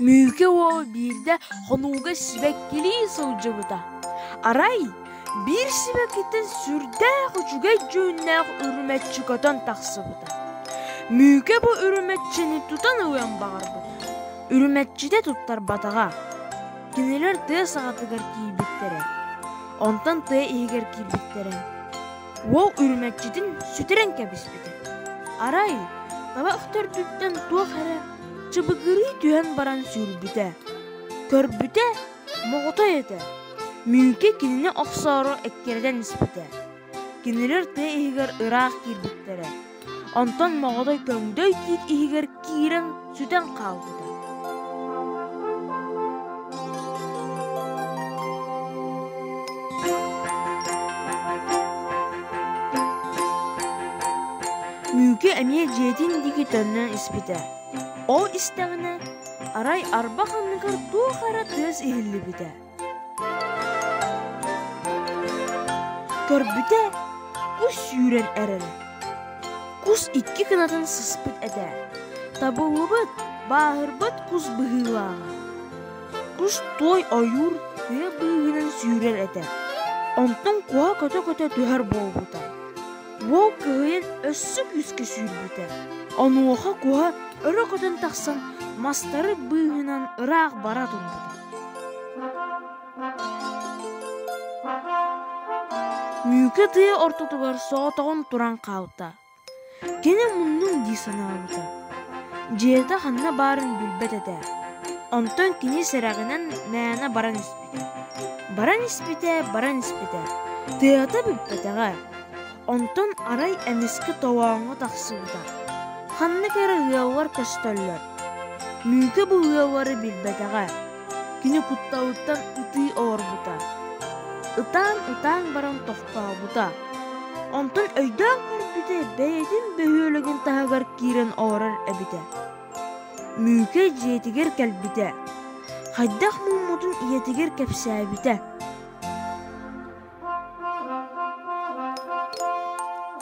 Мүүкэ уол биирдэ хонууга сибэккилии сылдьыбыта. Арай биир сибэккиттэн сүрдээх үчүгэй дьүһүннээх үрүмэччи көтөн тахсыбыта. Мүүкэ бу үрүмэччини тутан ылыан баҕарбыт. Үрүмэччитэ туттарбатаҕа. Кинилэр тыа саҕатыгар киирбиттэрэ. Онтон тыа иһигэр киирбиттэрэ. Уол үрүмэччитин сүтэрэн кэбиспитэ. Арай таба үктэрдиттэн туох эрэ чыбыгырыы түһэн баран сүүрбүтэ. Көрбүтэ, моҕотой этэ. Мүүкэ кинини охсоору эккирэтэн испитэ. Кинилэр тыа иһигэр ыраах киирбиттэрэ. Онтон моҕотой көҥдөй тиит иһигэр киирэн сүтэн хаалбыта. Үүкэ эмиэ дьиэтин диэки төннөн испитэ. Ол истэҕинэ, арай арба ханныгар туох эрэ тыас иһиллибитэ. Көрбүтэ, кус сүүрэн эрэрэ. Кус икки кынатын сыспыт этэ. Табыллыбыт, бааһырбат кус быһыылааҕа. Кус той ойуур тыа быыһынан сүүрэр этэ. Онтон куһа көтө-көтө түһэр буолбута. уол кыайан өссө күүскэ сүүрбүтэ. Онуоха куһа өрө көтөн тахсан мастары быыһынан ыраах бара турбута. Мүүкэ тыа ортотугар соотоҕун туран хаалта. Кини муннун дии санаабыта. Дьиэтэ ханна баарын билбэт этэ. Онтон кини сэрэҕинэн мээнэ баран испит. Баран испитэ, баран испитэ. Тыата бүппэтэҕэ. Онтон арай эмискэ тоҕооҥҥо тахсыбыта. Ханнык эрэ ыаллар көстөллөр. Мүөкэ бу ыаллары билбэтэҕэ. Кини кутталыттан ытыы олорбута. Ытаан-ытаан баран тохтообута. Онтон өйдөөн көрбүтэ, бэйэтин бөһүөлэгин таһыгар киирэн олорор эбитэ. Ньүкэй дьиэтигэр кэлбитэ, хайдах муммутун ийэтигэр кэпсээбитэ.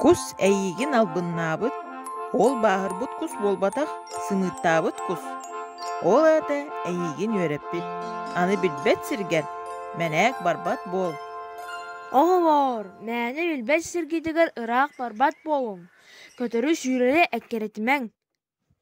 Кус эйиигин албыннаабыт, ол бааһырбыт кус буолбатах, сымыыттаабыт кус. Ол аата эйиигин үөрэппит. Аны билбэт сиргэр мэнээк барбат буол. Оҕолоор, мээнэ билбэт сиргитигэр ыраах барбат буолуҥ. Көтөрү сүүрэрэ эккирэтимэҥ.